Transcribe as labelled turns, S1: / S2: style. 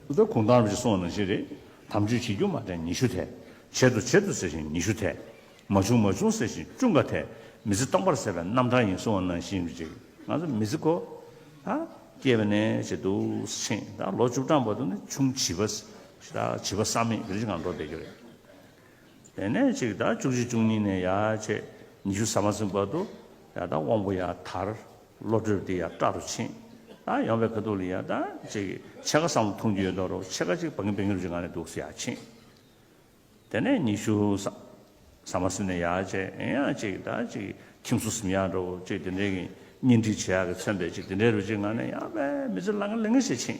S1: ད་ལྟ་གུང་ཐང་རུ་བཞི་སོང་ན་བཞི་རེད། དམ་ཆོས་བྱེད་རྒྱུ་མ་དྲན་ཉི་ཤུ་འཐད། བྱེད་དོ་བྱེད་དོ་ཟེར་བཞིན་ཉི་ཤུ་འཐད། མ་བྱུང་མ་བྱུང་ཟེར་བཞིན་བཅུ་འགའ་འཐད། མི་ཚེ་སྟོང་པར་ཟད་པའི་རྣམ་གྲངས་ཡིན་གསུང་བ་ནང་བཞིན་རེད། ང་ཚོ་མི་ཚེ་གོ། ད། སྐྱེས་པ་ནས་བྱེད་དུ་ཕྱིན། ད་ལོ་བཅུ་གྲངས་བར་དུ་ནི་ཆུང་བྱིས་པ། བྱིས་པ་བསམ་མེད་དེ་རིང་ཅིག་ངང་འགྲོ་བསྡད་རྒྱུ་རེད། དེ་ནས་གཅིག་དང་བཅུ་བཞི་བཅུ་གཉིས་ནས་ཡ་བྱེད་ཉི་ཤུ་ཟ་མ་ཟིན་བར་དུ་ཡ་དང་དབང་པོ་ཡ་དར། བློ་གྲོས་འདི་ཡ་སྐྲ་རུ་ཕྱིན། དང་ཡོང་བའི་ཁ་ཐུག་ལ་ཡ་དང་གཅིག་ཕྱེད་ཀ་སམ་ཐུང་རྒྱུ་ཡོད་དོ་རུ་ཕྱེད་ཀ་གཅིག་བག་ངན་བེང་རུ་གཅིག་ང་ནས་འདུག་ཡ་ཕྱིན། དེ་ནས་ཉི་ཤུ་ཟ་མ་ཟིན་ནས་ཡ་བྱེད་ཡ་གཅིག་དང་གཅིག་ཁྱིམ་སུ་ཟིམ་ཡ་འགྲོ་བུ་གཅིག་དེ་འདྲའི་གཉེན་སྒྲིག་བྱེད་ཡ་གི་མཚོན་པའི་གཅིག་དེ་འདྲའི་རུ་གཅིག་ང་ནས་ཡ་བས་མི་ཚེ་བླ་ང་ལེ་ང་ཞིག་ཕྱིན།